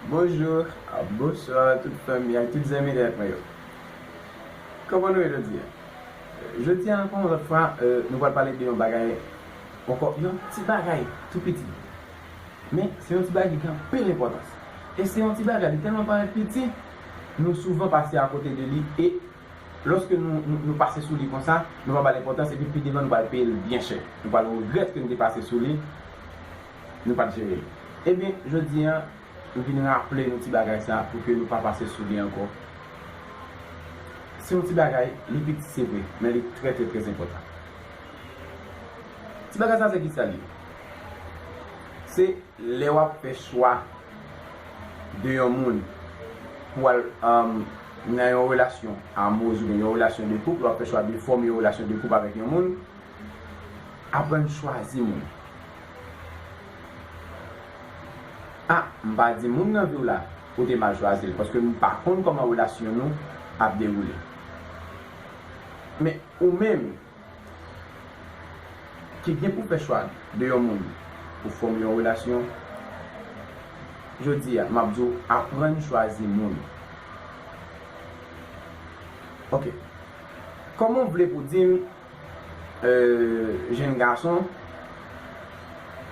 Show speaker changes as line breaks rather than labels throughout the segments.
Bonjour ak bonsoir tout fanmi ak tout zanmi nèt mwen yo Koman nou ye jodi a? Jodi a ankò yon lòt fwa nou pral pale de yon bagay ankò yon ti bagay tou piti men se yon ti bagay ki gen anpil enpòtans e se yon ti bagay li tèlman parèt piti nou souvan pase akote de li e lòske nou pase sou li konsa nou pa ba l enpòtans epi pi devan nou pral peye l byen chè nou pral regrèt ke nou te pase sou li. Nou pat jere l. Ebyen, jodi an, m vin raple nou ti bagay sa pou ke nou pa pase sou li ankò. Se yon ti bagay, li piti se vre, men li trè trè trè enpòtan. Ti bagay sa se kisa l ye? Se lè w ap fè chwa de yon moun pou al nan yon relasyon amoureuse oubyen yon relasyon de koup, lè w ap fè chwa de fòme yon relasyon de koup avèk yon moun, Aprann chwazi moun. A, m pa di moun nan vi w la, ou te mal chwazi l, paske m pa konn kòman relasyon nou ap dewoule. Men, ou menm ki gen pou fè chwa de yon moun pou fòme yon relasyon, jodi a, m ap di w aprann chwazi moun. Ok. Kòman w vle pou w di m Jenn gason,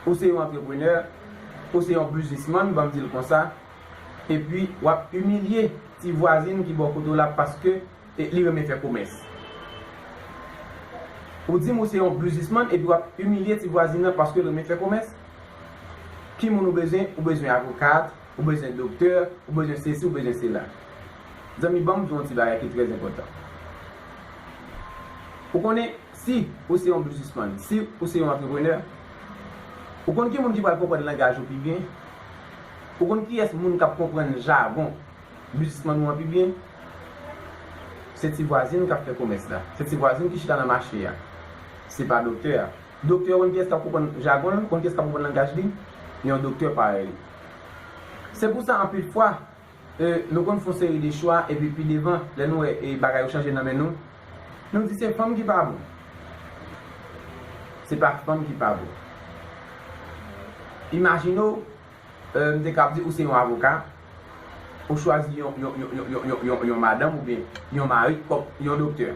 ou se yon antreprenè, ou se yon biznismann banm dil konsa, epi wap imilye ti vwazin ki bò kote w la paske li renmen fè komès. Ou dim ou se yon biznismann epi wap imilye ti vwazin nan paske l renmen fè komès? Ki moun ou bezwen? Ou bezwen avokat, ou bezwen doktè, ou bezwen sesi, ou bezwen sela. Zanmi banm di w yon ti bagay ki trè enpòtan. Ou konnen si ou se yon biznismann, si ou se yon antreprenè, ou konn ki moun ki pral konprann langaj ou pi byen? Ou konn kiyès moun k ap konprann jagon biznismann ou an pi byen? Se ti vwazin k ap fè komès la. Se ti vwazin ki chita nan mache a. Se pa doktè a. Doktè ou konn kiyès k ap konprann jagon l, ou konn kiyès k ap konprann langaj li? Yon doktè parèy li. Se pou sa anpil fwa, nou konn f'on seri de chwa epi pi devan, lè nou wè bagay yo chanje nan men nou, nou di se fanm ki pa bon. Se pa fanm ki pa bon. Imajine w, m te kab di ou se yon avoka, ou chwazi yon madanm oubyen yon mari kòm yon doktè.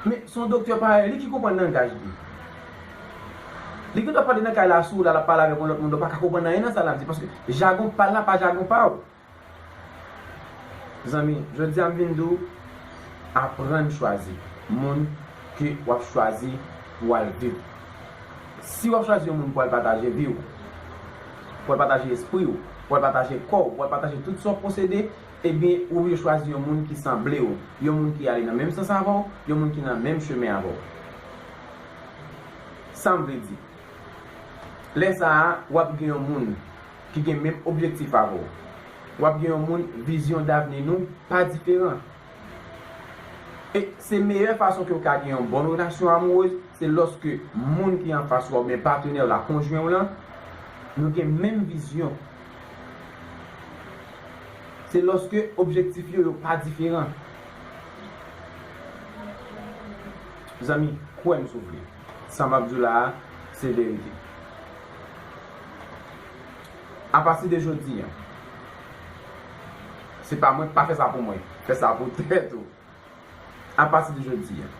Men, s'on doktè parèy li ki konprann langaj li. Li gendwa pale nan kay la sou ou la lap pale avèk yon lòt moun lè w paka konprann anyen nan sa lap di paske jagon pal la pa jagon pa w. Zanmi jodi a m vin di w aprann chwazi moun ke wap chwazi pou w al viv. Si wap chwazi yon moun pou al pataje vi w, pou w al pataje espri w, pou w al pataje kò w, pou w al pataje tout sa w posede ebyen ou oblije chwazi yon moun ki sanble w, yon moun ki ale nan menm sans avè w, yon moun ki nan menm chemen avè w. Sam vle di. Lè sa a wap gen yon moun ki gen menm objektif avè w. Wap gen yon moun vizyon davni nou pa diferan. E se meyè fason ke w ka gen yon bon relasyon amourez se lòske moun ki anfas wa oubyen patenè w la, konjwen w lan, nou gen menm vizyon. Se lòske objektif yo yo pa diferan. Mezanmi kwèm si w vle. Sa map di w la a se verite. A pati de jodi an. Se pa mwen, pa fè sa pou mwen. Fè sa pou tèt ou. A pati de jodi an.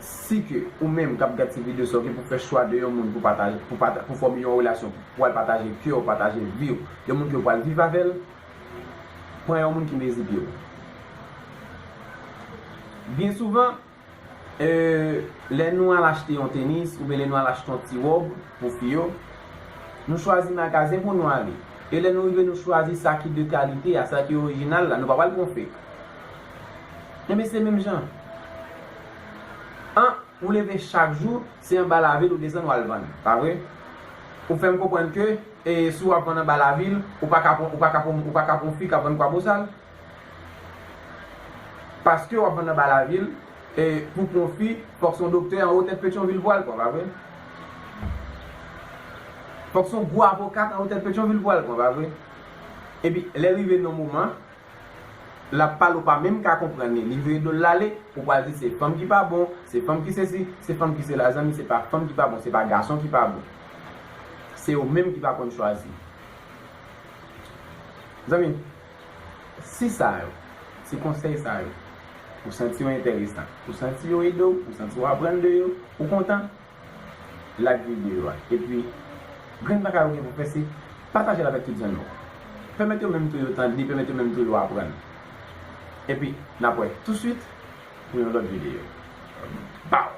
Si ke ou menm kap gad ti video sa ou gen pou fè chwa de yon moun pou pataje, pou fòme yon relasyon, pou al pataje kè w, pataje vi w, yon moun ke w pral viv avè l, pran yon moun ki mezi pye w. Byen souvan. Ee, lè nou al achte yon tenis oubyen lè nou al achte yon ti wòb pou fi yo, nou chwazi magazen pou nou ale. E lè nou rive nou chwazi sa ki de kalite a, sa ki orijinal la, nou pa pral pran fek. Enben se menm jan an, ou leve chak jou, se anba lavil ou desann wal vann, pa vre? Ou fè m konprann ke, ee, si wap vann anba lavil, ou pa ka pran, ou pa ka pran, ou pa ka pran fi kap vann Kwabosal? Paskew ap vann anba lavil e pou pwofi fòk son doktè anwo tèt petyonvil vwal pran pa vre? Fòk son gwo avokat anwo tèt petyonvil vwal pran pa vre? Epi lè rive non moman lap pale ou pa menm ka konprann li, li vire dol lale ou pral di se fanm ki pa bon, se fanm ki sesi, se fanm ki sela zanmi se pa fanm ki pa bon se pa gason ki pa bon se ou menm ki pa konn chwazi zanmi. Si sa yo, si konsèy sa yo, ou santi yo entèresan, ou santi yo ede w, ou santi w aprann de yo, ou kontan, like videyo a. Epi, grenn pa ka yo gen pou pèse, pataje l avèk tout zanmi w. Pèmèt yo menm tou yo tande, pèmèt yo menm tou yo aprann. Epi, n ap wè touswit pou yon lòt videyo. Baww!